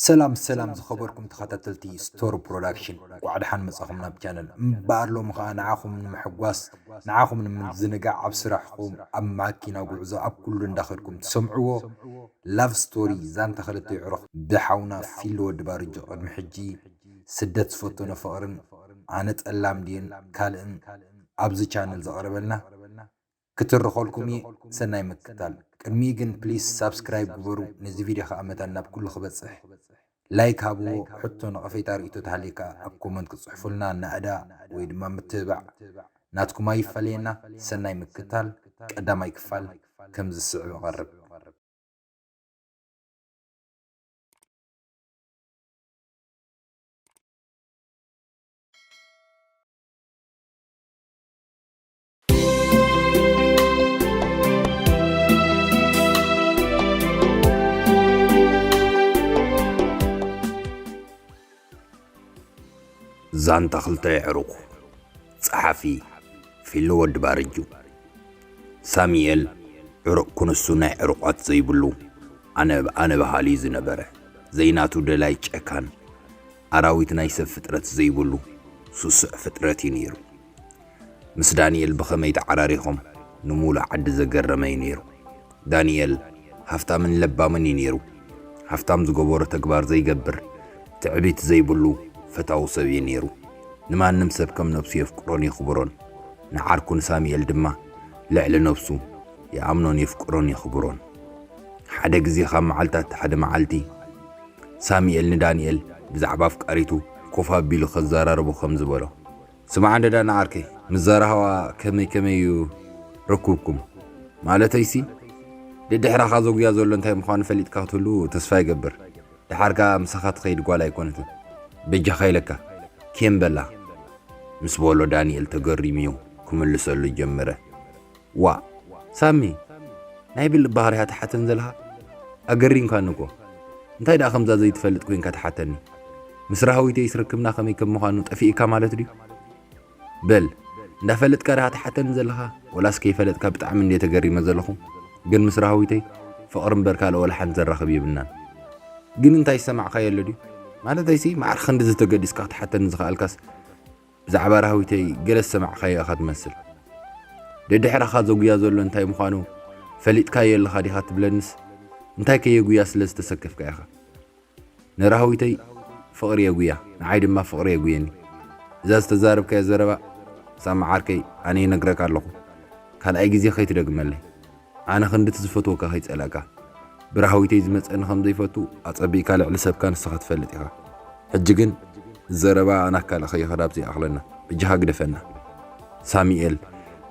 ሰላም ሰላም ዝኸበርኩም ተኸታተልቲ ስቶር ፕሮዳክሽን እንቋዕ ደሓን መጻኹም ናብ ቻነል እምበኣር ሎሚ ኸኣ ንዓኹም ንምሕጓስ ንዓኹም ንምዝንጋዕ ኣብ ስራሕኹም ኣብ ማኪና ጉዕዞ ኣብ ኩሉ እንዳኸድኩም ትሰምዕዎ ላቭ ስቶሪ ዛንታ ክልተ የዕሩኽ ብሓውና ፊሊ ወዲ ባርጆ ቅድሚ ሕጂ ስደት ዝፈተኖ ፍቕርን ኣነ ጠላም ድየን ካልእን ኣብዚ ቻነል ዘቕረበልና ክትርኸልኩም እየ ሰናይ ምክታል። ቅድሚኡ ግን ፕሊስ ሳብስክራይብ ግበሩ ነዚ ቪድዮ ከኣ መታን ናብ ኩሉ ክበጽሕ ላይክ ሃብዎ ሕቶ ነቐፌታ ርእይቶ ተሃልዩ ከኣ ኣብ ኮመንት ክትጽሕፉልና ናእዳ ወይ ድማ ምትብባዕ ናትኩም ኣይፈለየና ሰናይ ምክታል ቀዳማይ ክፋል ከም ዝስዕብ እቐርብ። ዛንታ ክልተ የዕሩኽ ጸሓፊ ፊሊ ወዲ ባርጁ ሳሙኤል ዕሩቕ ክንሱ ናይ ዕሩቓት ዘይብሉ ኣነ ኣነ በሃሊ ዝነበረ ዘይናቱ ደላይ ጨካን ኣራዊት ናይ ሰብ ፍጥረት ዘይብሉ ስሱዕ ፍጥረት እዩ ነይሩ። ምስ ዳኒኤል ብኸመይ ተዓራሪኾም ንሙሉእ ዓዲ ዘገረመ እዩ ነይሩ። ዳኒኤል ሃፍታምን ለባምን እዩ ነይሩ። ሃፍታም ዝገበሮ ተግባር ዘይገብር፣ ትዕቢት ዘይብሉ ፈታዊ ሰብ እዩ ነይሩ። ንማንም ሰብ ከም ነብሱ የፍቅሮን የኽብሮን። ንዓርኩ ንሳሙኤል ድማ ልዕሊ ነብሱ ይኣምኖን የፍቅሮን የኽብሮን። ሓደ ግዜ ካብ መዓልታት ሓደ መዓልቲ ሳሙኤል ንዳኒኤል ብዛዕባ ኣፍቃሪቱ ኮፍ ኣቢሉ ከዘራርቦ ከምዚ በሎ። ስማዕ እንድዳ ንዓርከይ ምስ ዛራህዋ ከመይ ከመይ እዩ ርኩብኩም ማለተይሲ ደድሕራኻ ዘጉያ ዘሎ እንታይ ምዃኑ ፈሊጥካ ክትህሉ ተስፋ ይገብር ድሓር ከኣ ምሳኻ ትኸይድ ጓል ኣይኮነትን በጃኻ ኢለካ ኬም በላ ምስ በሎ ዳንኤል ተገሪሙዩ ክምልሰሉ ጀመረ። ዋእ ሳሚ ናይ ብልእ ባህርያ ትሓተን ዘልካ ኣገሪምካኒ እኮ እንታይ ደኣ ከምዛ ዘይትፈልጥ ኮንካ ትሓተኒ ምስ ራህዊተይ ስርክብና ከመይ ከም ምዃኑ ጠፊእካ ማለት ድዩ በል እንዳፈለጥካ ድኻ ትሓተኒ ዘለኻ ወላስ ከይፈለጥካ ብጣዕሚ እንደ ተገሪመ ዘለኹ ግን ምስ ራህዊተይ ፍቕሪ እምበር ካልኦ ወላ ሓንቲ ዘራኽብ የብልናን ግን እንታይ ዝሰማዕካዮ ኣሎ ድዩ ማለተይሲ ማዕረ ክንዲ ዝተገዲስካ ክትሓተኒ ዝኸኣልካስ ብዛዕባ ራህዊተይ ገለ ዝሰማዕካዮ እኻ ትመስል። ደድሕራኻ ዘጉያ ዘሎ እንታይ ምዃኑ ፈሊጥካዮ ኣለኻ ዲኻ ትብለንስ እንታይ ከየጉያ ስለ ዝተሰከፍካ ኢኻ። ንራህዊተይ ፍቕሪ የጉያ ንዓይ ድማ ፍቕሪ የጉየኒ። እዛ ዝተዛረብካያ ዘረባ ሳሚ ዓርከይ ኣነ ይነግረካ ኣለኹ ካልኣይ ግዜ ከይትደግመለይ። ኣነ ክንዲ እቲ ዝፈትወካ ከይጸላእካ ብራህዊተይ ዝመጸኒ ከም ዘይፈቱ ኣጸቢቕካ ልዕሊ ሰብካ ንስኻ ትፈልጥ ኢኻ ሕጂ ግን ዘረባ ኣና ካልእ ከይኸዳብ ዘይኣኽለና በጃኻ ግደፈና ሳሚኤል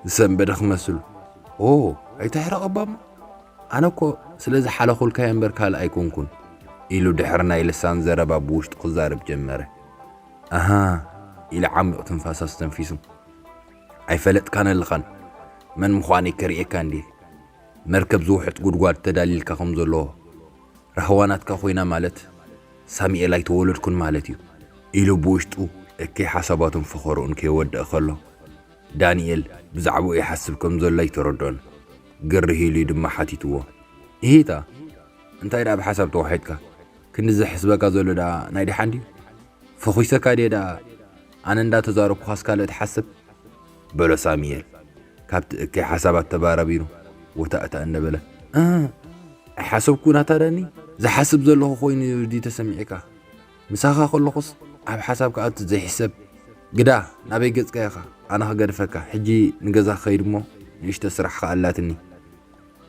ዝሰንበደ ክመስል ኦ ኣይተሕረቐባሞ ኣነ እኮ ስለ ዝሓለኹልካየ እምበር ካልእ ኣይኮንኩን ኢሉ ድሕሪ ናይ ልሳን ዘረባ ብውሽጡ ክዛረብ ጀመረ ኣሃ ኢለ ዓሚቕ ትንፋስ ኣስተንፊሱ ኣይፈለጥካን ኣለኻን መን ምዃነይ ከርእየካ እንድየ መርከብ ዝውሕጥ ጉድጓድ ተዳሊልካ ከም ዘሎ ራህዋ ናትካ ኮይና ማለት ሳሚኤል ኣይተወለድኩን ማለት እዩ ኢሉ ብውሽጡ እከይ ሓሳባቱን ፈኸርኡን ከየወደኣ ከሎ ዳኒኤል ብዛዕባኡ ይሓስብ ከም ዘሎ ኣይተረድኦን ግርህ ኢሉ ድማ ሓቲትዎ እሂታ እንታይ ደኣ ብሓሳብ ተዋሒጥካ ክንዲ ዘሕስበካ ዘሎ ደኣ ናይ ደሓን ድዩ ፈኹሰካ ድየ ደኣ ኣነ እንዳ ተዛረብኩኻስ ካልእ ትሓስብ? በሎ ሳሚኤል ካብቲ እከይ ሓሳባት ተባራቢሩ ወታእታእ እንደበለ። እህ ኣይሓሰብኩን ኣታ ዳኒ፣ ዝሓስብ ዘለኹ ኮይኑ ድዩ ተሰሚዕካ? ምሳኻ ከለኹስ ኣብ ሓሳብ ክኣቱ ዘይሕሰብ ግዳ ናበይ ገጽካ ኢኻ ኣነ ክገድፈካ ሕጂ ንገዛ ክኸይድ እሞ ንእሽቶ ስራሕ ከኣላትኒ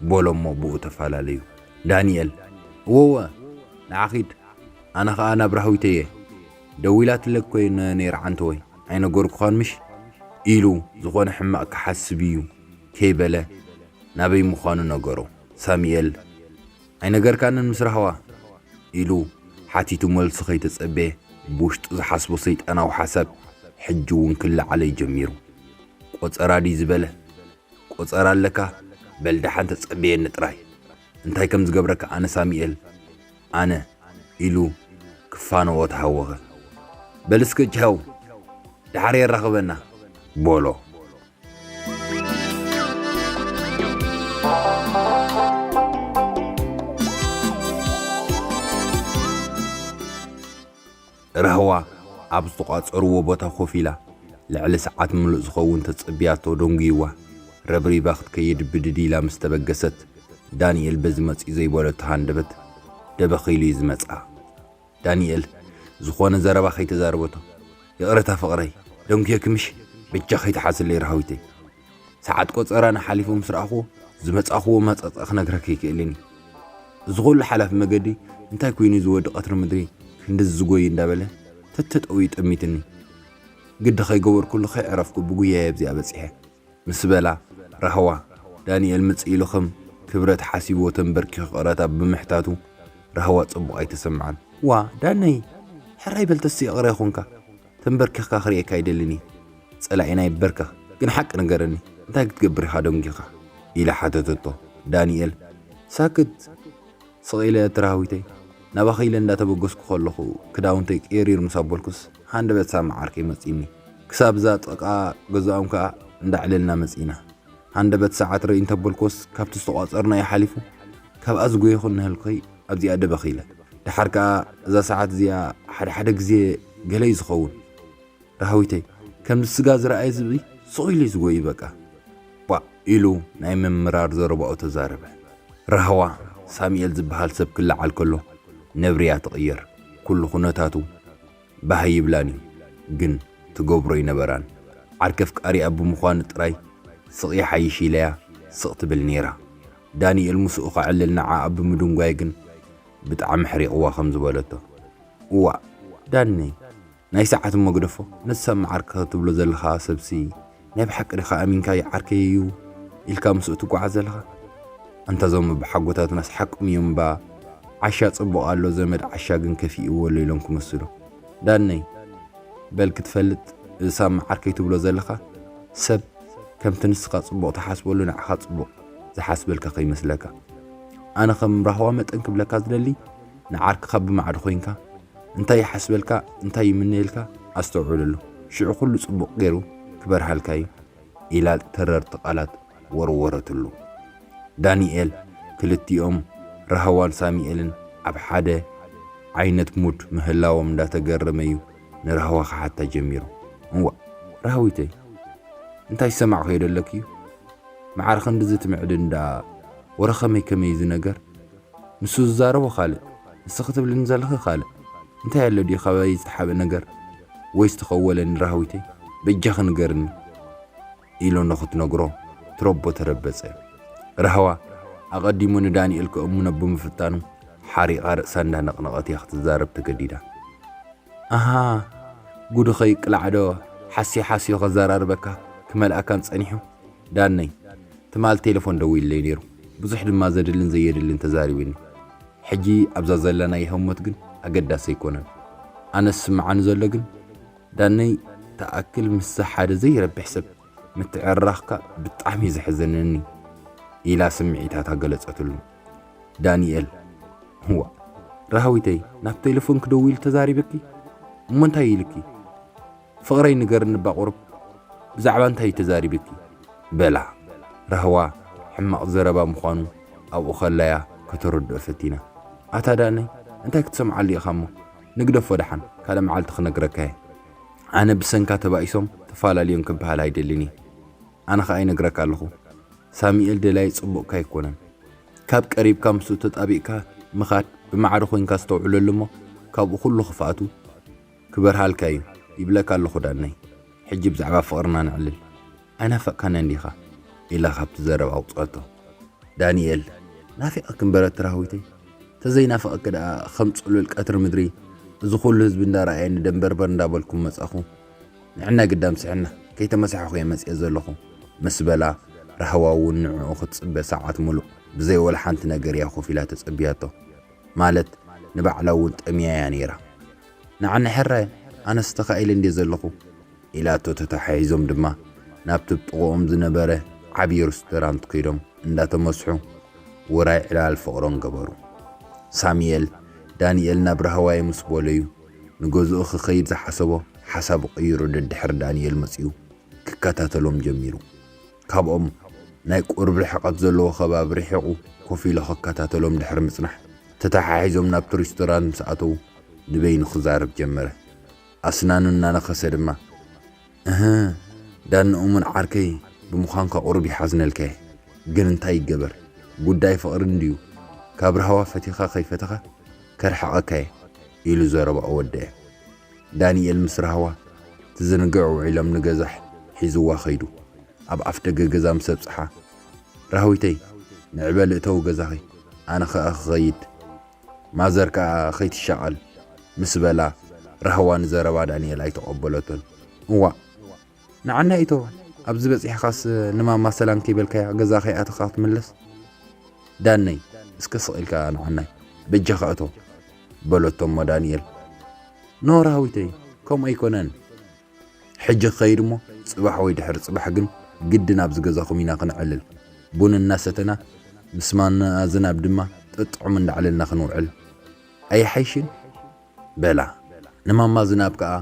በሎ'ሞ ብኡ ተፈላለዩ። ዳንኤል፣ እወ'ወ፣ ንዓ ኺድ፣ ኣነ ኸኣ ናብ ራህዊተይ'የ፣ ደዊላትለኪ ኰይነ ነይረ ዓንተወይ፣ ኣይነገርኩኻን ምሽ? ኢሉ ዝዀነ ሕማቕ ክሓስብ'ዩ ከይበለ ናበይ ምዃኑ ነገሮ። ሳሙኤል፣ ኣይነገርካንን ምስ ራህዋ? ኢሉ ሓቲቱ መልሱ ከይተጸበየ ብውሽጡ ዝሓስቦ ሰይጣናዊ ሓሳብ ሕጂ'ውን ክለዓለይ ጀሚሩ። ቈጸራ ድዩ ዝበለ? ቆጸራ ኣለካ በል ደሓን ተጸበየኒ ጥራይ እንታይ ከም ዝገብረካ ኣነ ሳሚኤል ኣነ ኢሉ ክፋነዎ ተሃወኸ በል እስከ ቻው ደሓር የራኽበና ቦሎ። ራህዋ ኣብ ዝተቋጸርዎ ቦታ ኮፍ ኢላ ልዕሊ ሰዓት ምሉእ ዝኸውን ተጸብያቶ ደንጉይዋ ረብሪባ ክትከይድ ብድድ ኢላ ምስ ተበገሰት ዳኒኤል በዚ መጺኡ ዘይበለቶ ሃንደበት ደበኽ ኢሉ'ዩ ዝመጽኣ። ዳኒኤል ዝኾነ ዘረባ ከይተዛረበቶ ይቕረታ ፍቕረይ ደንጉየኪ ምሽ በጃኺ ትሓዝለይ ራህዊተይ። ሰዓት ቆጸራና ሓሊፉ ምስ ረኣኹዎ ዝመጻኹዎ መጸጸ ክነግረኪ ኣይክእልን እዩ እዚ ኩሉ ሓላፊ መገዲ እንታይ ኮይኑ እዚ ወዲ ቀትሪ ምድሪ ክንድዚ ዝጎይ እንዳበለ ተተጠውዩ ጠሚትኒ ግዲ ከይገበርኩሉ ከይዕረፍኩ ብጉያየ ኣብዚኣ በጺሐ ምስ በላ ራህዋ ዳንኤል ምጽእ ኢሉ ከም ክብረት ሓሲብዎ ተንበርኪኹ ይቕረታ ብምሕታቱ ራህዋ ጽቡቕ ኣይተሰምዓን ዋ ዳነይ ሕራይ በል ተስእ ይቕረ ይኹንካ ተንበርኪኽካ ክርእየካ ኣይደልን እየ ጸላኢና ይበርከኽ ግን ሓቂ ንገረኒ እንታይ ክትገብር ኢኻ ደንጊኻ ኢላ ሓተተቶ ዳኒኤል ሳክት ስቕ ኢለ ትራህዊተይ ናባኺ ኢለ እንዳተበገስኩ ከለኹ ክዳውንተይ ቅይሪር ምስ ኣበልኩስ ሃንደበት ሳማ ዓርከይ መጺኒ ክሳብ እዛ ጥቓ ገዛኦም ከኣ እንዳዕለልና መጺና ሃንደበት ሰዓት ርእይ እንተበልኩስ ካብቲ ዝተቋጸርናዮ ሓሊፉ ካብኣ ዝጎየኹ እነህልኩኸይ ኣብዚኣ ደበኽ ኢለ ደሓር ከኣ እዛ ሰዓት እዚኣ ሓደ ሓደ ግዜ ገለ እዩ ዝኸውን ራህዊተይ ከምዚ ስጋ ዝረኣየ ዝብኢ ስቕ ኢሉ ዝጎዩ በቃ ቧእ ኢሉ ናይ ምምራር ዘረባኡ ተዛረበ ራህዋ ሳሙኤል ዝበሃል ሰብ ክለዓል ከሎ ነብሪ እያ ትቕየር ኩሉ ኩነታቱ ባህ ኣይብላን እዩ ግን ትገብሮ ኣይነበራን ዓርከፍቃሪኣ ብምዃኑ ጥራይ ስቕ ይሓይሽ ኢለያ ስቕ ትብል ነይራ ዳኒኤል ምስኡ ከዕልል ንዓኣ ብምድንጓይ ግን ብጣዕሚ ሕሪቕዋ ከም ዝበለቶ፣ እዋእ ዳነይ ናይ ሰዓት እሞ ግደፎ ነቲ ሰብ መዓርከ ትብሎ ዘለኻ ሰብሲ ናይ ብሓቂ ዲኻ ኣሚንካዮ ዓርከይ እዩ ኢልካ ምስኡ ትጓዓዝ ዘለኻ? ኣንታ እዞም ኣቦሓጎታትናስ ሓቆም እዮም እባ ዓሻ ጽቡቕ ኣሎ ዘመድ ዓሻ ግን ከፊእዎ ኣሎ ኢሎም ክምስሉ ዳነይ በል ክትፈልጥ እዚ ሳብ መዓርከይ ትብሎ ዘለኻ ሰብ ከምቲ ንስኻ ጽቡቕ ትሓስበሉ ንዓኻ ጽቡቕ ዝሓስበልካ ከይመስለካ ኣነ ከም ራህዋ መጠን ክብለካ ዝደሊ ንዓርክኻ ብማዕዶ ኮይንካ እንታይ ይሓስበልካ እንታይ ይምነየልካ ኣስተውዕለሉ ሽዑ ኩሉ ጽቡቕ ገይሩ ክበርሃልካ እዩ ኢላ ተረርቲ ቃላት ወርወረትሉ። ዳንኤል ክልቲኦም ራህዋን ሳሚኤልን ኣብ ሓደ ዓይነት ሙድ ምህላዎም እንዳተገረመ እዩ ንራህዋ ክሓታ ጀሚሩ። እዋእ ራህዊተይ እንታይ ዝሰማዕክዮ ደለክዩ መዓር ክንድዚ ትምዕድን ደኣ ወረ ከመይ ከመይ እዚ ነገር ንሱ ዝዛረቦ ካልእ ንስኺ ትብልኒ ዘለኺ ካልእ እንታይ ኣሎ ድዩ ካባይ ዝሓበ ነገር ወይስ ተኸወለኒ ራህዊተይ በጃኺ ንገርኒ ኢሎ ንኽትነግሮ ትረቦ ተረበጸ። ራህዋ ኣቐዲሙ ንዳንኤል ከእምኖ ብምፍታኑ ሓሪቓ ርእሳ እንዳነቕነቐት እያ ክትዛረብ ተገዲዳ። ኣሃ ጉድኺ ይቅላዕዶ ሓስየ ሓስዮ ከዘራርበካ ክመልኣካን ጸኒሑ ዳነይ ትማል ቴለፎን ደዊሉለይ ነይሩ ብዙሕ ድማ ዘድልን ዘየድልን ተዛሪብኒ ሕጂ ኣብዛ ዘለናዮ ህሞት ግን ኣገዳሲ ኣይኮነን ኣነስ ዝስምዓኒ ዘሎ ግን ዳነይ ትኣክል ምስዛ ሓደ ዘይረብሕ ሰብ ምትዕርራኽካ ብጣዕሚ እዩ ዘሕዝነኒ ኢላ ስምዒታታ ገለጸትሉ። ዳኒኤል እዋእ ራህዊተይ ናብ ቴለፎንኪ ደዊሉ ተዛሪብኪ እሞ እንታይ ኢልኪ ፍቕረይ ንገርኒ እባ ቁሩብ ብዛዕባ እንታይ እዩ ተዛሪብኪ በላ ራህዋ ሕማቕ ዘረባ ምዃኑ ኣብኡ ከላ'ያ ከተረድኦ ፈቲና ኣታ ዳነይ እንታይ ክትሰምዓሉ ኢኻ እሞ ንግደፎ ደሓን ካልእ መዓልቲ ክነግረካ እየ። ኣነ ብሰንካ ተባኢሶም ተፋላልዮም ክበሃል ኣይደልን እየ። ኣነ ከኣ ይነግረካ ኣለኹ ሳሚኤል ደላዪ ጽቡቕካ ኣይኮነን። ካብ ቀሪብካ ምስኡ ተጣቢቕካ ምኻድ ብማዕረ ኮይንካ ኣስተውዕለሉ እሞ ካብኡ ኩሉ ክፍኣቱ ክበርሃልካ እዩ ይብለካ ኣለኹ ዳነይ። ሕጂ ብዛዕባ ፍቕርና ነዕልል። ኣይናፈቅካንን ዲኻ? ኢላ ካብቲ ዘረባ ኣውጽኣቶ። ዳኒኤል፣ ናፊቐኪ እምበር ኤርትራዊተይ፣ ተዘይናፍቐኪ ደኣ ከም ጽሉል ቀትሪ ምድሪ እዚ ኩሉ ህዝቢ እንዳረኣየኒ ደምበርበር እንዳበልኩ ምመጻኹ። ንዕናይ ግዳም ስሕና ከይተመሳሕኹ'የ መጺኤ ዘለኹ ምስ በላ፣ ራህዋ'ውን ንዕኡ ክትጽበ ሰዓት ምሉእ ብዘይ ወላ ሓንቲ ነገር'ያ ኮፍ ኢላ ተጸብያቶ። ማለት ንባዕላ'ውን ጠምያ'ያ ነይራ። ንዓኒ ሕራይ ኣነስ ተኻኢለ እንድየ ዘለኹ። ኢላቶ ተታሓሒዞም ድማ ናብቲ ብ ጥቕኦም ዝነበረ ዓብዪ ርስቶራንት ከይዶም እንዳተመስሑ ውራይ ዕላል ፍቕሮም ገበሩ። ሳሚኤል ዳኒኤል ናብ ራህዋየ ምስ በሎዩ ንገዝኡ ክኸይድ ዝሓሰቦ ሓሳቡ ቀይሩ ደድሕሪ ዳኒኤል መጺኡ ክከታተሎም ጀሚሩ። ካብኦም ናይ ቁርብ ርሕቐት ዘለዎ ከባቢ ርሒቑ ኮፍ ኢሉ ክከታተሎም ድሕሪ ምጽናሕ ተታሓሒዞም ናብቲ ሪስቶራንት ምስ ኣተዉ ንበይኑ ክዛረብ ጀመረ። ኣስናኑ እናነኸሰ ድማ፣ እህ! ዳኒ እሙን ዓርከይ ብምዃንካ ቁሩብ ይሓዝነልካ'የ፣ ግን እንታይ ይገበር ጉዳይ ፍቕሪ እንድዩ፣ ካብ ራህዋ ፈቲኻ ከይፈተኻ ከርሕቐካ'የ ኢሉ ዘረባኡ ወደኤ። ዳኒኤል ምስ ራህዋ ትዝንግዕ ውዒሎም ንገዛ ሒዙዋ ከይዱ። ኣብ ኣፍደገ ገዛ ምስ ኣብጽሓ፣ ራህዊተይ ንዕበሊ እተዊ ገዛኺ ኣነ ከኣ ክኸይድ፣ ማዘር ከኣ ከይትሻቐል ምስ በላ ራህዋ ንዘረባ ዳንኤል ኣይተቐበለቶን። እዋእ ንዓና ኢቶ ኣብዚ በጺሕኻስ ንማማ ሰላም ከይበልካያ ገዛ ከይኣተኻ ክትምለስ? ዳነይ እስከ ስቕ ኢልካ ንዓናይ በጃኻ እቶ በለቶ እሞ ዳንኤል ኖ ራህዊተይ ከምኡ ኣይኮነን ሕጂ ክኸይድ እሞ ጽባሕ ወይ ድሕሪ ጽባሕ ግን ግድን ኣብዚ ገዛኹም ኢና ክንዕልል። ቡን እናሰተና ምስ ማማ ኣዝናብ ድማ ጥጥዑም እንዳዕለልና ክንውዕል ኣይሓይሽን? በላ። ንማማ ዝናብ ከኣ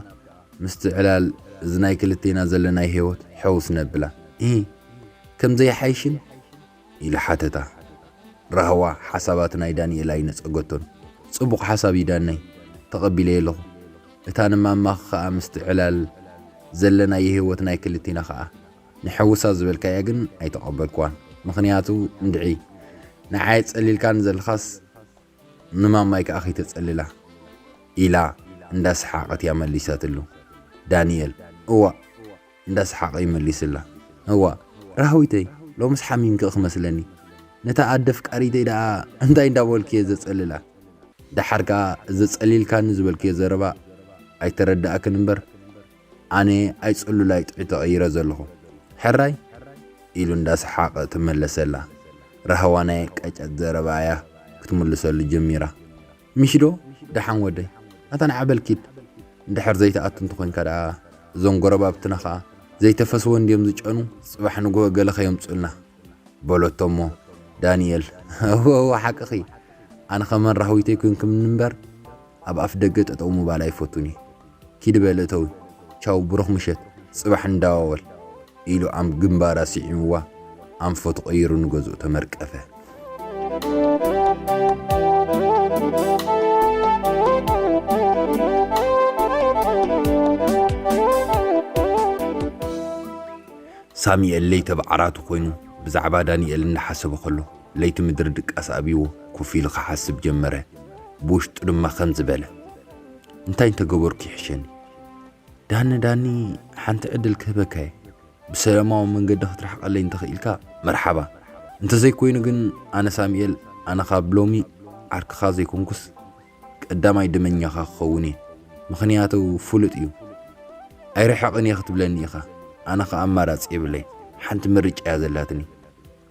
ምስቲ ዕላል እዚ ናይ ክልቴና ዘለናዮ ህይወት ሕውስ ነብላ። ኢሂ! ከምዚ ኣይሓይሽን? ኢለ ሓተታ። ራህዋ ሓሳባት ናይ ዳኒኤል ኣይነጸገቶን። ጽቡቕ ሓሳብ እዩ ዳነይ፣ ተቐቢለዮ ኣለኹ። እታ ንማማኺ ከኣ ምስቲ ዕላል ዘለናዮ ህይወት ናይ ክልቲና ከኣ ንሐውሳ ዝበልካያ ግን ኣይተቐበልክዋን። ምኽንያቱ እንድዒ ንዓይ ኣጸሊልካኒ ዘለኻስ ንማማይ ከኣ ከይተጸልላ ኢላ እንዳሰሓቐት እያ መሊሳትሉ። ዳኒኤል እዋእ እንዳ ሰሓቐ ይመሊስላ። እዋእ ራህዊተይ ሎምስ ሓሚምኪ ክመስለኒ፣ ነታ ኣደ ኣፍቃሪተይ ደኣ እንታይ እንዳ በልኩ'የ ዘጸልላ? ደሓር ከኣ እዚ ጸሊልካኒ ዝበልክዮ ዘረባ ኣይተረደኣክን እምበር፣ ኣነ ኣይጽሉላይ ጥዑይ ተቐይረ ዘለኹ። ሕራይ? ኢሉ እንዳ ሰሓቐ ተመለሰላ። ራህዋ ናይ ቀጨት ዘረባ'ያ ክትምልሰሉ ጀሚራ። ሚሽዶ ደሓን ወደይ ኣታ ንዓ በል ኪድ እንድሕር ዘይትኣቱ እንተኮንካ ደኣ እዞም ጎረባብትና ከኣ ዘይተፈስወ እንድዮም ዝጨኑ ጽባሕ ንግሆ ገለ ከየምጹልና በሎቶ እሞ ዳኒኤል እወ እወ ሓቅኺ ኣነኸ መን ራህዊተይ ኮንክምኒ እምበር ኣብ ኣፍደገ ጠጠው ምባል ኣይፈቱን እየ ኪድ በል እተዊ ቻው ብሩኽ ምሸት ጽባሕ ንዳዋወል ኢሉ ኣም ግንባራ ሲዒምዋ ኣንፈቱ ቀይሩ ንገዝኡ ተመርቀፈ። ሳሚኤል ለይተ ብዓራቱ ኮይኑ ብዛዕባ ዳኒኤል እንዳሓሰበ ከሎ ለይቲ ምድሪ ድቃስ ኣብይዎ ኮፍ ኢሉ ክሓስብ ጀመረ። ብውሽጡ ድማ ከምዚ በለ። እንታይ እንተገበርኩ ይሕሸኒ ዳኒ ዳኒ ሓንቲ ዕድል ክህበካ እየ ብሰላማዊ መንገዲ ክትርሕቀለይ እንተኽኢልካ መርሓባ እንተዘይኮይኑ ግን ኣነ ሳሙኤል ኣነ ካብ ሎሚ ዓርክኻ ዘይኮንኩስ ቀዳማይ ደመኛኻ ክኸውን እየ ምኽንያቱ ፍሉጥ እዩ ኣይርሕቕን እየ ክትብለኒ ኢኻ ኣነ ከ ኣማራፂ የብለይ ሓንቲ ምርጫ እያ ዘላትኒ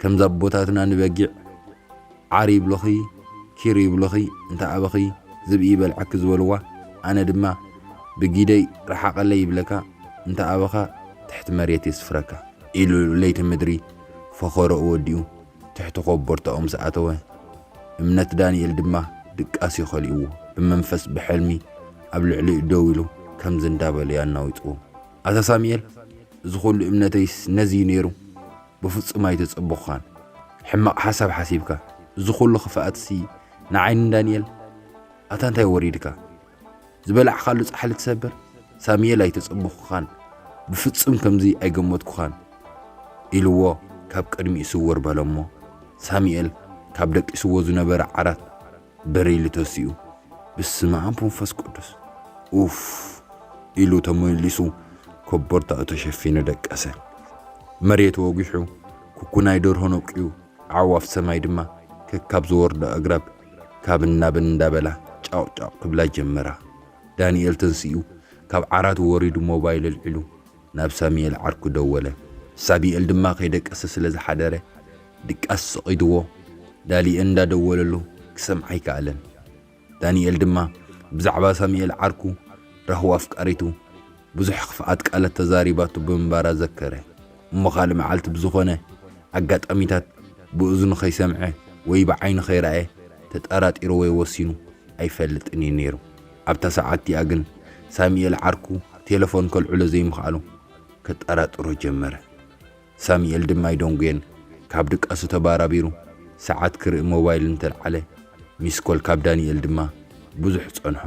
ከምዚ ኣቦታትና ንበጊዕ ዓር ይብሉኺ ኪር ይብሉኺ እንተ ኣበኺ ዝብኢ ይበልዓኪ ዝበልዋ ኣነ ድማ ብጊደይ ርሓቐለይ ይብለካ እንተ ኣበኻ ትሕቲ መሬት የስፍረካ ኢሉ ለይቲ ምድሪ ፈኸረኡ ወዲኡ ትሕቲ ኮቦርታኡ ምስ ኣተወ እምነት ዳንኤል ድማ ድቃስ'ዩ ከሊእዎ ብመንፈስ ብሕልሚ ኣብ ልዕሊኡ ደው ኢሉ ከምዚ እንዳበለ'ዩ ኣናዊጽዎ ኣታ ሳሙኤል እዚ ኩሉ እምነተይስ ነዚ'ዩ ነይሩ ብፍጹም ኣይተጸበኹኻን ሕማቕ ሓሳብ ሓሲብካ እዚ ኩሉ ክፍኣትሲ ንዓይ ንዳንኤል ኣታ እንታይ ወሪድካ ዝበላዕካሉ ጻሕሊ ትሰብር ሳሙኤል ኣይተጸበኹኻን ብፍጹም ከምዚ ኣይገመትኩኻን ኢልዎ ካብ ቅድሚኡ ስውር በለሞ ሳሙኤል ካብ ደቂስዎ ዝነበረ ዓራት በሪሉ ተሲኡ ብስመኣብ ወንፈስ ቅዱስ ኡፍ ኢሉ ተመሊሱ ኮቦርታኡ ተሸፊኑ ደቀሰ። መሬት ወጒሑ ኩኩናይ ደርሆ ነቂዩ ኣዕዋፍ ሰማይ ድማ ከካብ ዝወርዶ ኣግራብ ካብን ናብን እንዳበላ ጫቕጫቕ ክብላ ጀመራ። ዳንኤል ተንሲኡ ካብ ዓራቱ ወሪዱ ሞባይል ኣልዒሉ ናብ ሳሚኤል ዓርኩ ደወለ። ሳቢኤል ድማ ከይደቀሰ ስለ ዝሓደረ ድቃስ ሰቒዱዎ ዳሊኤል እንዳ ደወለሉ ክሰምዓ ኣይከኣለን። ዳኒኤል ድማ ብዛዕባ ሳሚኤል ዓርኩ ራህዋ ኣፍቃሪቱ ብዙሕ ክፍኣት ቃላት ተዛሪባቱ ብምንባራ ዘከረ። እሞ ካልእ መዓልቲ ብዝኾነ ኣጋጣሚታት ብእዝኑ ከይሰምዐ ወይ ብዓይኑ ከይረኣየ ተጠራጢሩ ወይ ወሲኑ ኣይፈልጥን እዩ ነይሩ። ኣብታ ሰዓት እቲኣ ግን ሳሙኤል ዓርኩ ቴለፎን ከልዕሎ ዘይምኽኣሉ ከጠራጥሮ ጀመረ። ሳሙኤል ድማ ኣይደንጎየን፣ ካብ ድቃሱ ተባራቢሩ ሰዓት ክርኢ ሞባይል እንተልዓለ ሚስ ኮል ካብ ዳኒኤል ድማ ብዙሕ ጸንሖ፣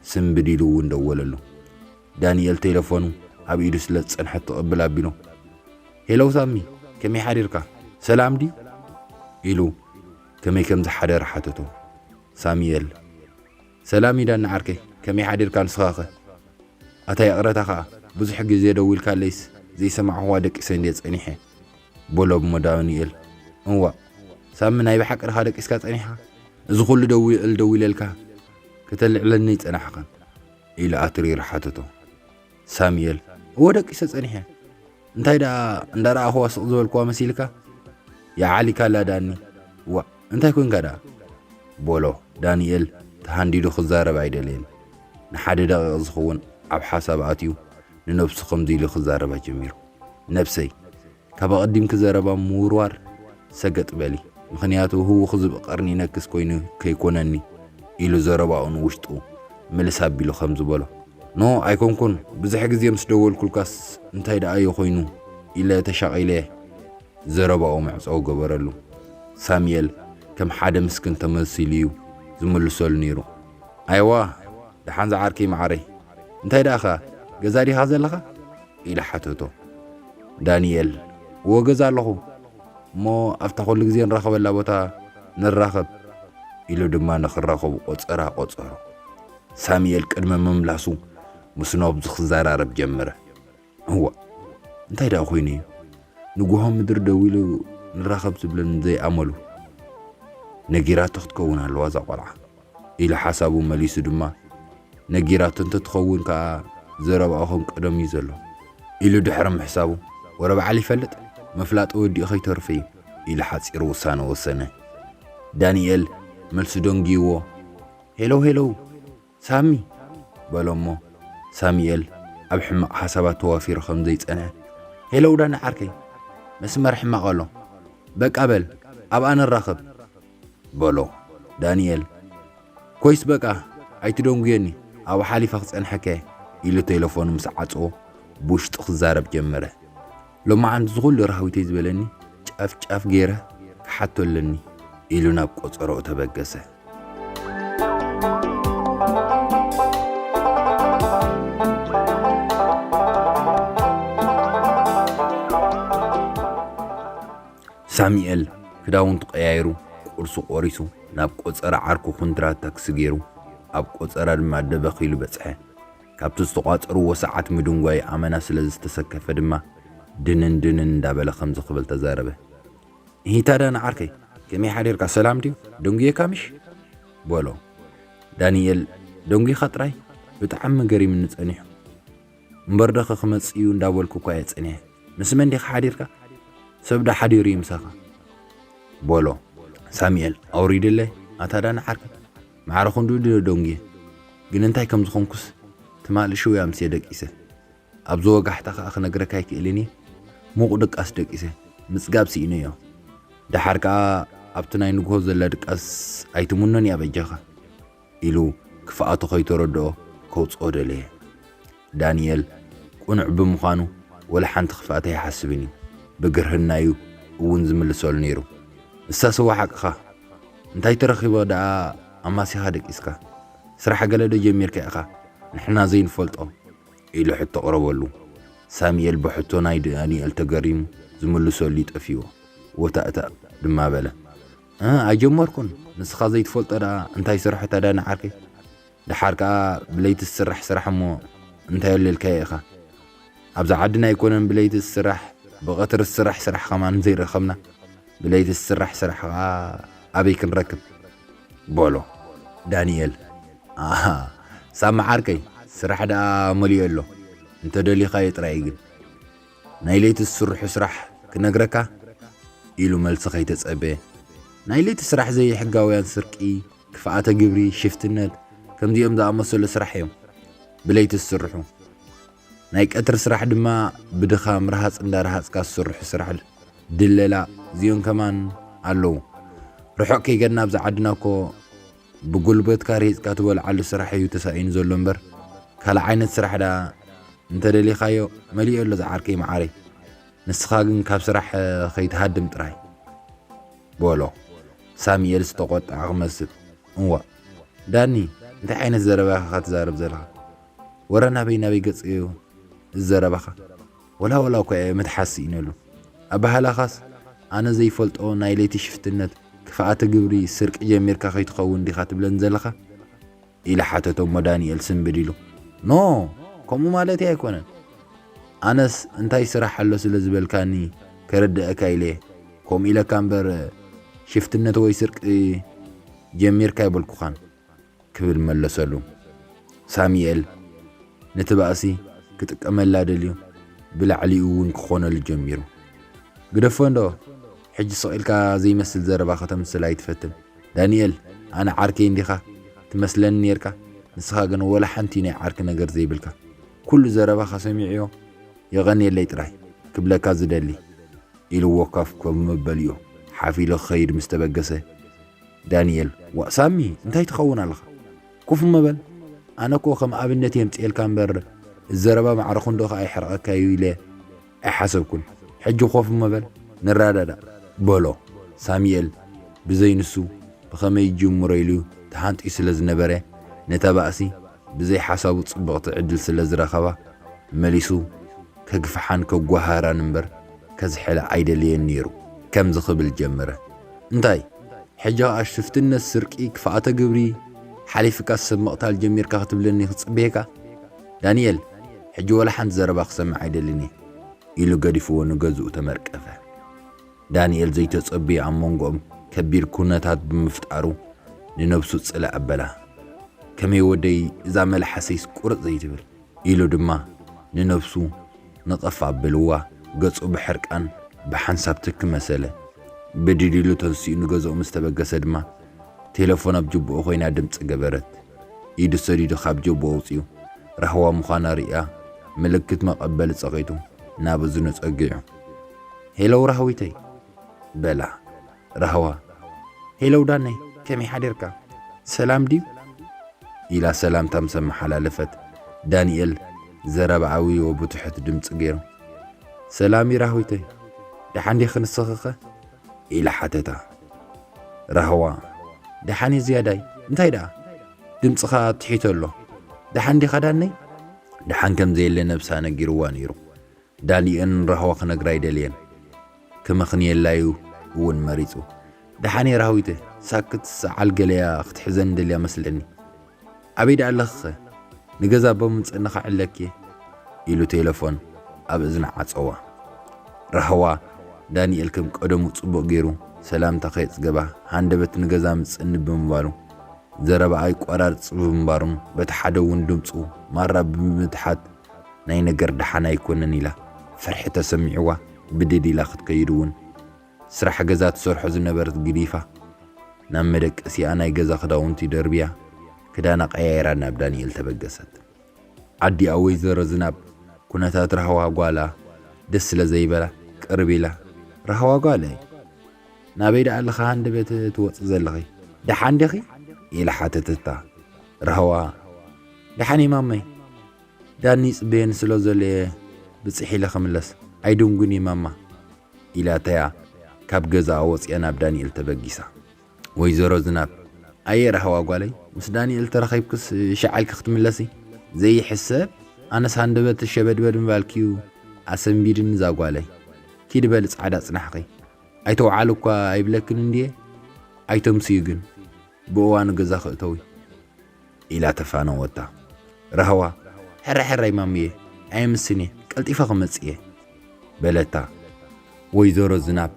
ስንብድ ኢሉ እውን ደወለሉ። ዳኒኤል ቴለፎኑ ኣብ ኢዱ ስለ ዝጸንሐት ትቕብል ኣቢሉ ሄሎ ሳሚ ከመይ ሓዲርካ ሰላም ድዩ ኢሉ ከመይ ከም ዝሓደረ ሓተቶ። ሳሙኤል ሰላም ይዳኒ ዓርከይ ከመይ ሓዲርካ ንስኻኸ ኣታ ይቕረታ ከኣ ብዙሕ ግዜ ደዊልካለይስ ዘይሰማዕክዋ ደቂሰ እንድየ ጸኒሐ በሎ እሞ ዳኒኤል እዋእ ሳሚ ናይ ብሓቂ ድኻ ደቂስካ ጸኒሕካ እዚ ኩሉ ደዊል ደዊለልካ ከተልዕለኒ ይጸናሕካ ኢሉ ኣትሪሩ ሓተቶ ሳሙኤል እወ ደቂሰ ጸኒሐ እንታይ ደኣ እንዳረኣኹዋ ስቕ ዝበልኩዋ መሲልካ ይዓሊካላ ዳኒ ዋእ እንታይ ኮንካ ደኣ ቦሎ ዳንኤል ተሃንዲዱ ክዛረብ ኣይደለየን ንሓደ ደቂቕ ዝኸውን ኣብ ሓሳብ ኣትዩ ንነብሱ ከምዚ ኢሉ ክዛረባ ጀሚሩ ነብሰይ ካብ ኣቐዲምኪ ዘረባ ምውርዋር ሰገጥ በሊ ምኽንያቱ ህውኽ ዝብኢ ቀርኒ ይነክስ ኮይኑ ከይኮነኒ ኢሉ ዘረባኡ ንውሽጡ ምልስ ኣቢሉ ከምዚ በሎ ኖ ኣይኮንኩን ብዙሕ ግዜ ምስ ደወልኩልካስ እንታይ ደኣዮ ኮይኑ ኢለ ተሻቒለ ዘረባኡ መዕጸዊ ገበረሉ ሳሚኤል ከም ሓደ ምስክን ተመሲሉ እዩ ዝምልሰሉ ነይሩ ኣይዋ ደሓን ዝዓርከይ መዓረይ እንታይ ደኣኻ ገዛ ዲኻ ዘለኻ ኢለ ሓተቶ ዳኒኤል፣ እወ ገዛ ኣለኹ፣ እሞ ኣብታ ኩሉ ግዜ ንራኸበላ ቦታ ንራኸብ ኢሉ ድማ ንኽራኸቡ ቆጸራ ቆጸሮ። ሳሙኤል ቅድሚ ምምላሱ ምስ ኖብዝ ክዘራረብ ጀመረ። እዋ እንታይ ደኣ ኮይኑ እዩ ንጉሆ ምድሪ ደው ኢሉ ንራኸብ ዝብለን ዘይኣመሉ ነጊራቶ ክትከውን ኣለዋ እዛ ቆልዓ። ኢሉ ሓሳቡ መሊሱ ድማ ነጊራቶ እንተትኸውን ከኣ ዘረባኡ ከም ቀደሙ እዩ ዘሎ ኢሉ ድሕሪ ምሕሳቡ ወረ በዓል ይፈልጥ ምፍላጥ ወዲኡ ከይተርፍ እዩ ኢሉ ሓጺር ውሳነ ወሰነ። ዳኒኤል መልሱ ደንጊዩዎ ሄሎው ሄሎው ሳሚ በሎ እሞ ሳሚኤል ኣብ ሕማቕ ሓሳባት ተዋፊሩ ከም ዘይጸንሐ ሄሎው ዳኒ ዓርከይ መስመር ሕማቕ ኣሎ በቃ በል ኣብኣ ንራኸብ በሎ ዳኒኤል ኮይስ በቃ ኣይትደንጉየኒ ኣብኡ ሓሊፈ ክጸንሐካ'የ ኢሉ ቴለፎኑ ምስ ዓጽዎ ብውሽጡ ክዛረብ ጀመረ ሎማዓንቲ እዚ ኩሉ ራህዊተይ ዝበለኒ ጫፍ ጫፍ ገይረ ክሓቶ ኣለኒ ኢሉ ናብ ቆጸሮኡ ተበገሰ ሳሚኤል ክዳውንቱ ቀያይሩ ቁርሱ ቆሪሱ ናብ ቆጸራ ዓርኩ ኩንትራት ታክሲ ገይሩ ኣብ ቆጸራ ድማ ደበኽ ኢሉ በጽሐ። ካብቲ ዝተቋጸርዎ ሰዓት ምድንጓይ ኣመና ስለ ዝተሰከፈ ድማ ድንን ድንን እንዳበለ ከምዚ ክብል ተዛረበ። እሂ ታዳ ንዓርከይ ከመይ ሓዲርካ ሰላም ድዩ ደንጉየካ ምሽ በሎ። ዳንኤል ደንጒኻ ጥራይ ብጣዕሚ ገሪምኒ ጸኒሑ። እምበር ደኸ ክመጽእ እዩ እንዳበልኩ እኳ እየ ጸኒሐ። ምስ መን ዲኻ ሓዲርካ? ሰብ ዶ ሓዲሩ እዩ ምሳኻ? በሎ ሳሙኤል ኣውሪድለይ ኣታ ዳኒ ዓርከይ። ማዕረ ክንድኡ ድየ ደንጉየ። ግን እንታይ ከም ዝኾንኩስ ትማሊ ሽው እየ ኣምስየ ደቂሰ። ኣብዚ ወጋሕታ ከኣ ክነግረካ ኣይክእልን እየ። ምቑእ ድቃስ ደቂሰ። ምጽጋብ ስኢነዮ። ደሓር ከኣ ኣብቲ ናይ ንግሆ ዘላ ድቃስ ኣይትምኖን እያ በጃኻ። ኢሉ ክፍኣቱ ከይተረድኦ ከውጽኦ ደለየ። ዳኒኤል ቅኑዕ ብምዃኑ ወላ ሓንቲ ክፍኣት ኣይሓስብን እዩ። ብግርህና'ዩ እውን ዝምልሰሉ ነይሩ። ንሳስ'ዋ ሓቅኻ! እንታይ ተረኺቦ ደኣ ኣማሲኻ ደቂስካ? ስራሕ ገለ'ዶ ጀሚርካ ኢኻ ንሕና ዘይንፈልጦ? ኢሉ ሕቶ ኣቕረበሉ። ሳሙኤል ብሕቶ ናይ ዳኒኤል ተገሪሙ ዝምልሰሉ'ዩ ጠፊኡዎ። ወታእታእ ድማ በለ። እህ ኣይጀመርኩን ንስኻ ዘይትፈልጦ ደኣ እንታይ ስርሑ ተዳኒ ዓርከይ ደሓር ከኣ ብለይቲ ዝስራሕ ስራሕ እሞ እንታይ ኣለልካዮ ኢኻ ኣብዛ ዓድና ኣይኮነን ብለይቲ ዝስራሕ ብቐትሪ ዝስራሕ ስራሕ ከማን ዘይረኸብና ብለይቲ ዝስራሕ ስራሕ ከኣ ኣበይ ክንረክብ በሎ ዳንኤል ኣሃ ሳሚ ዓርከይ ስራሕ ደኣ መሊኡ ኣሎ እንተደሊኻዮ ጥራይ ግን ናይ ለይቲ ዝስርሑ ስራሕ ክነግረካ? ኢሉ መልሲ ከይተጸበየ። ናይ ለይቲ ስራሕ ዘይሕጋውያን ስርቂ፣ ክፍኣተ ግብሪ፣ ሽፍትነት፣ ከምዚኦም ዝኣመሰሉ ስራሕ እዮም ብለይቲ ዝስርሑ። ናይ ቀትሪ ስራሕ ድማ ብድኻም ረሃጽ እንዳረሃጽካ ዝስርሑ ስራሕ፣ ድለላ፣ እዚኦም ከማን ኣለዉ። ርሑቕ ከይገድና ኣብዚ ዓድና እኮ ብጉልበትካ ሪህጽካ ትበልዓሉ ስራሕ እዩ ተሳኢኑ ዘሎ እምበር ካልእ ዓይነት ስራሕ ደኣ እንተደሊኻዮ መሊኡ ኣሎ ዝዓርከይ መዓረይ ንስኻ ግን ካብ ስራሕ ከይትሃድም ጥራይ በሎ ሳሙኤል ዝተቆጥዐ ክመስል እዋ ዳኒ እንታይ ዓይነት ዘረባ ኢኻ ትዛረብ ዘለኻ ወረ ናበይ ናበይ ገጽ እዩ እዚ ዘረባኻ ወላ ወላ እኳ እየ ምትሓዝ ስኢነሉ ኣበሃህላኻስ ኣነ ዘይፈልጦ ናይ ለይቲ ሽፍትነት ክፍኣተ ግብሪ ስርቂ ጀሚርካ ከይትኸውን ዲኻ ትብለኒ ዘለኻ ኢለ ሓተቶ እሞ ዳኒኤል ስንብድ ኢሉ ኖ ከምኡ ማለተይ ኣይኮነን ኣነስ እንታይ ስራሕ ኣሎ ስለ ዝበልካኒ ከረድኣካ ኢለ ከምኡ ኢለካ እምበር ሽፍትነት ወይ ስርቂ ጀሚርካ ኣይበልኩኻን ክብል መለሰሉ። ሳሚኤል ነቲ ባእሲ ክጥቀመላ ደልዩ ብላዕሊኡ እውን ክኾነሉ ጀሚሩ። ግደፎ እንዶ ሕጂ ስቕ ኢልካ ዘይመስል ዘረባ ከተምስል ኣይትፈትን። ዳኒኤል ኣነ ዓርከይ እንዲኻ ትመስለኒ ኔርካ ንስኻ ግን ወላ ሓንቲ ናይ ዓርኪ ነገር ዘይብልካ። ኩሉ ዘረባኻ ሰሚዐዮ የቐንየለይ ጥራይ ክብለካ ዝደሊ። ኢልዎ ኮፍ ኮፍ መበሊኡ ሓፍ ኢሉ ክኸይድ ምስ ተበገሰ። ዳኒኤል ዋእ ሳሚ እንታይ ትኸውን ኣለኻ ኩፍ እሞ በል ኣነ እኮ ከም ኣብነት የምጽኤልካ እምበር እዚ ዘረባ ማዕረ ክንዶ ከኣ ይሕርቐካ እዩ ኢለ ኣይሓሰብኩን ሕጂ ኮፍ እሞ በል ንረዳዳእ በሎ ሳሚኤል ብዘይ ንሱ ብኸመይ ይጅምሮ ኢሉ ተሃንጥዩ ስለ ዝነበረ ነታ ባእሲ ብዘይ ሓሳቡ ጽብቕቲ ዕድል ስለ ዝረኸባ መሊሱ ከግፍሓን ከጓሃራን እምበር ከዝሕላ ኣይደለየን ነይሩ። ከምዚ ክብል ጀመረ፣ እንታይ ሕጂ ኸኣ ሽፍትነት፣ ስርቂ፣ ክፍኣተ ግብሪ ሓሊፍካስ ሰብ ምቕታል ጀሚርካ ክትብለኒ ክጽበየካ? ዳንኤል ሕጂ ወላ ሓንቲ ዘረባ ክሰምዕ ኣይደልን እየ። ኢሉ ገዲፍዎ ንገዝኡ ተመርቀፈ። ዳንኤል ዘይተጸበዮ ኣብ መንጎኦም ከቢድ ኩነታት ብምፍጣሩ ንነብሱ ጽልእ ኣበላ። ከመይ ወደይ እዛ መልሓሰይስ ቁርጽ ዘይትብል? ኢሉ ድማ ንነብሱ ንቕፍ ኣበልዋ ገጹ ብሕርቃን ብሓንሳብ ትኪ መሰለ። ብድድ ኢሉ ተንሲኡ ንገዝኡ ምስ ተበገሰ ድማ ቴለፎን ኣብ ጅብኡ ኮይና ድምጺ ገበረት። ኢዱ ሰዲዱ ካብ ጀብኡ ኣውጺኡ ራህዋ ምዃና ርእያ ምልክት መቐበሊ ጸቒጡ ናብ እዝኑ ጸጊዑ ሄለው ራህዊተይ! በላ። ራህዋ፣ ሄለው ዳነይ ከመይ ሓዲርካ? ሰላም ድዩ? ኢላ ሰላምታ ምስ ኣመሓላለፈት፣ ዳኒኤል ዘረባ ኣውዩዎ ብትሑት ድምጺ ገይሩ፣ ሰላም እዩ ራህዊተይ፣ ደሓን ዲኺ ንስኺኸ? ኢላ ሓተታ። ራህዋ፣ ደሓን እየ ዝያዳይ፣ እንታይ ደኣ ድምጽኻ ትሒቶ ኣሎ፣ ደሓን ዲኻ ዳነይ? ደሓን ከም ዘየለ ነብሳ ነጊሩዋ ነይሩ። ዳሊኤን ራህዋ ክነግራ ኣይደለየን ክመኽንየላ ዩ ውን መሪጹ። ደሓንየ ራህዊተ ሳክት ሰዓል ገለያ ክትሕዘኒ ደልያ መስለኒ ኣበይ ደኣ ኣለኺኸ ንገዛ እባ ምምጸኒ ክዕለኪየ ኢሉ ቴለፎን ኣብ እዝና ዓጸዋ። ራህዋ ዳኒኤል ከም ቀደሙ ጽቡቕ ጌሩ ሰላምታ ከየጽገባ ሃንደበት ንገዛ ምጽኒ ብምባሉ ዘረባኣ ይቆራርጽ ብምንባሩን በቲ ሓደ ውን ድምጹ ማራ ብምትሓት ናይ ነገር ደሓን ኣይኮነን ኢላ ፍርሒ ተሰሚዕዋ ብድድ ኢላ ክትከይድ እውን ስራሕ ገዛ ትሰርሖ ዝነበረት ግዲፋ ናብ መደቀሲኣ ናይ ገዛ ክዳውንቲ ደርብያ ክዳና ቀያይራ ናብ ዳንኤል ተበገሰት። ኣዲኣ ወይዘሮ ዝናብ ኩነታት ራህዋ ጓላ ደስ ስለ ዘይበላ ቅርብ ኢላ ራህዋ ጓለይ ናበይ ደኣ ኣለኺ ሃንደበት ትወፂ ዘለኺ ደሓን ዲኺ? ኢላ ሓተተታ። ራህዋ ደሓን እየ ማመይ ዳኒ ይፅበየኒ ስለ ዘሎ እየ ብፅሕ ኢለ ክምለስ ኣይድንጉን እየ ማማ ኢላታያ ካብ ገዛኣ ወፂኣ ናብ ዳኒኤል ተበጊሳ ወይዘሮ ዝናብ ኣየ ራህዋ ጓለይ ምስ ዳኒኤል ተራኺብክስ ሻዕ ኢልኪ ክትምለሲ ዘይሕሰብ ኣነስ ሃንደበተይ ሸበድበድ ምባልኪ እዩ ኣሰንቢድኒ እዛ ጓለይ ኪዲ በሊ ፃዕዳ ፅናሕኺ ኣይተውዓሉ እኳ ኣይብለክን እንድየ ኣይተምስዩ ግን ብእዋኑ ገዛ ክእተዊ ኢላ ተፋነወታ ራህዋ። ሕራይ ሕራይ ማሙየ ኣየምስን እየ ቀልጢፈ ክመጽእ እየ። በለታ ወይዘሮ ዝናብ።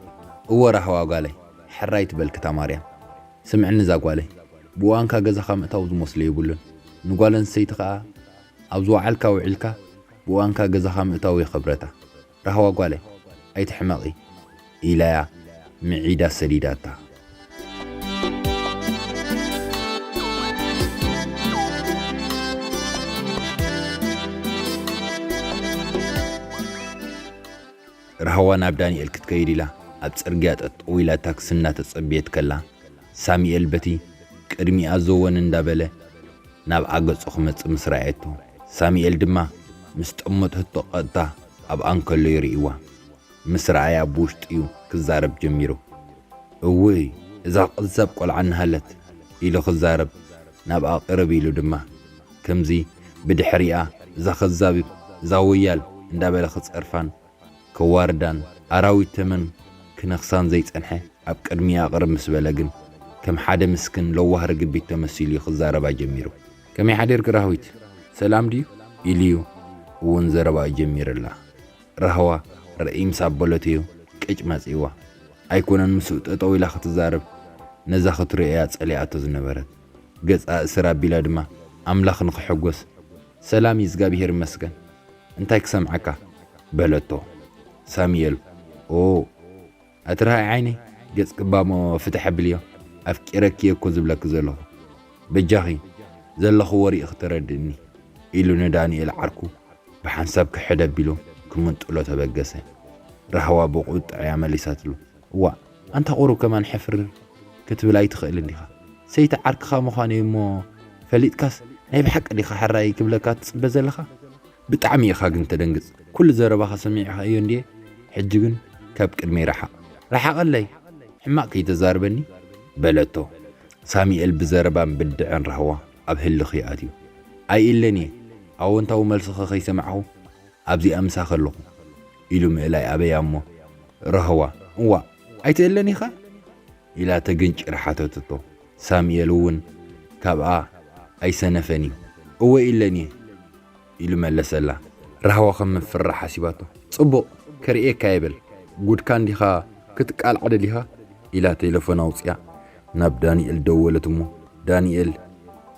እወ ራህዋ ጓለይ ሕራይ ትበል ክታማርያም። ስምዕኒ እዛ ጓለይ ብእዋንካ ገዛኻ ምእታው ዝመስሎ የብሉን ንጓል ኣንስተይቲ ከኣ ኣብ ዝወዓልካ ውዒልካ ብእዋንካ ገዛኻ ምእታው እየ ክብረታ። ራህዋ ጓለይ ኣይትሕመቒ ኢላያ ምዒዳ ሰዲዳታ። ራህዋ ናብ ዳኒኤል ክትከይድ ኢላ ኣብ ጽርግያ ጠጠው ኢላ ታክሲ እናተጸበየት ከላ ሳሚኤል በቲ ቅድሚኣ ዘወን እንዳበለ ናብኣ ገጹ ክመጽእ ምስ ረኣየቶ፣ ሳሚኤል ድማ ምስ ጠመተቶ ቀጥታ ኣብኣ እንከሎ ይርእይዋ ምስ ረኣያ ብውሽጡ'ዩ ክዛረብ ጀሚሩ። እውይ እዛ ቀዛብ ቆልዓ እንሃለት ኢሉ ክዛረብ ናብኣ ቅርብ ኢሉ ድማ ከምዚ ብድሕሪኣ እዛ ከዛብ እዛ ወያል እንዳበለ ክጸርፋን ከዋርዳን ኣራዊት ተመን ክነኽሳን ዘይጸንሐ ኣብ ቅድሚኣ ቅርብ ምስ በለ ግን ከም ሓደ ምስክን ለዋህ ርግቢት ተመሲሉ እዩ ክዛረባ ጀሚሩ። ከመይ ሓዲርኪ ራህዊት ሰላም ድዩ? ኢሉዩ እውን ዘረባኡ ጀሚርላ። ራህዋ ርእይ ምስ ኣበለቶዩ ቅጭ መጺእዋ። ኣይኮነን ምስኡ ጠጠው ኢላ ክትዛረብ ነዛ ክትሪኦያ ጸሊኣቶ ዝነበረት። ገጻ እስር ኣቢላ ድማ ኣምላኽ ንኽሕጎስ ሰላም እዩ እዝጋብሄር ይመስገን እንታይ ክሰምዓካ በለቶ ሳሚኤል ኦ ኣትርሃይ ዓይነይ ገጽ ቅባሞ ፍትሕ ኣብልዮ ኣፍቂረኪ እየ እኮ ዝብለኪ ዘለኹ በጃኺ ዘለኽዎ ርኢኺ ተረድእኒ ኢሉ ንዳንኤል ዓርኩ ብሓንሳብ ክሕድ ኣቢሉ ክምንጥሎ ተበገሰ ራህዋ ብቑጥዐ እያ መሊሳትሉ እዋእ ኣንታ ቁሩብ ከማን ሕፍር ክትብል ኣይትኽእልን ዲኻ? ሰይቲ ዓርክኻ ምዃነይ እሞ ፈሊጥካስ ናይ ብሓቂ ዲኻ ሕራየይ ክብለካ ትጽበ ዘለኻ? ብጣዕሚ ኢኻ ግን ተደንግጽ ኩሉ ዘረባኻ ሰሚዕኻዮ እንድየ ሕጂ ግን ካብ ቅድመይ ርሓቕ ርሓቐለይ ሕማቕ ከይተዛርበኒ በለቶ ሳሚኤል ብዘረባን ብድዐን ራህዋ ኣብ ህልኽ ይኣትዩ ኣይእለንየ ኣወንታዊ መልስኺ ከይሰማዕኹ ኣብዚኣ ምሳኺ ኣለኹ ኢሉ ምእላይ ኣበያ'ሞ፣ ራህዋ፣ እዋእ ኣይትእለን ኢኻ? ኢላ ተግንጭር ሓተተቶ። ሳሙኤል'ውን ካብኣ ኣይሰነፈን'ዩ፣ እወ ኢለን'የ፣ ኢሉ መለሰላ። ራህዋ ከም ምፍርራሕ ሓሲባቶ፣ ጽቡቕ፣ ከርእየካ'የ በል፣ ጉድካ እንዲኻ ክትቃልዓ ደሊኻ? ኢላ ቴለፎን ኣውጺኣ ናብ ዳኒኤል ደወለት'ሞ፣ ዳኒኤል፣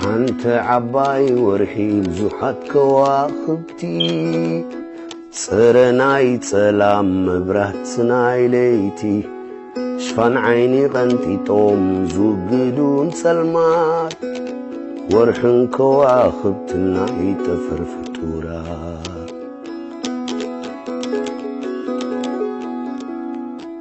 ሓንቲ ዓባይ ወርሒ ብዙሓት ከዋኽብቲ ፅረ ናይ ጸላም መብራት ናይ ለይቲ ሽፋን ዓይኒ ቐንጢጦም ዝውግዱን ጸልማት ወርሕን ከዋኽብትን ናይ ጠፈር ፍጡራት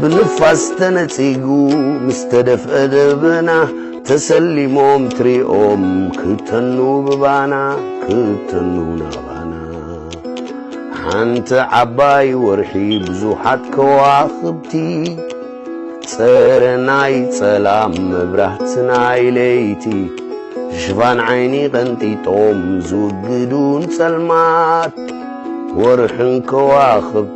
ብንፋስ ተነጺጉ ምስ ተደፍአ ደበና ተሰሊሞም ትሪኦም ክተኑ ብባና ክተኑ ናባና ሓንቲ ዓባይ ወርሒ ብዙሓት ከዋኽብቲ ጸረ ናይ ጸላም መብራህቲ ናይ ለይቲ ሽፋን ዓይኒ ቀንጢጦም ዝውግዱን ጸልማት ወርሕን ከዋኽብቲ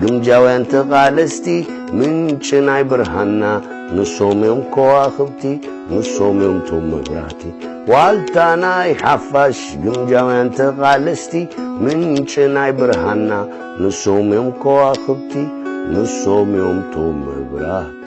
ግምጃውያን ተቓለስቲ ምንጪ ናይ ብርሃንና ንሶም እዮም ከዋኽብቲ ንሶም እዮም ቶም መብራህቲ ዋልታ ናይ ሓፋሽ ግምጃውያን ተቓለስቲ ምንጪ ናይ ብርሃንና ንሶም እዮም ከዋኽብቲ ንሶም እዮም ቶም መብራህቲ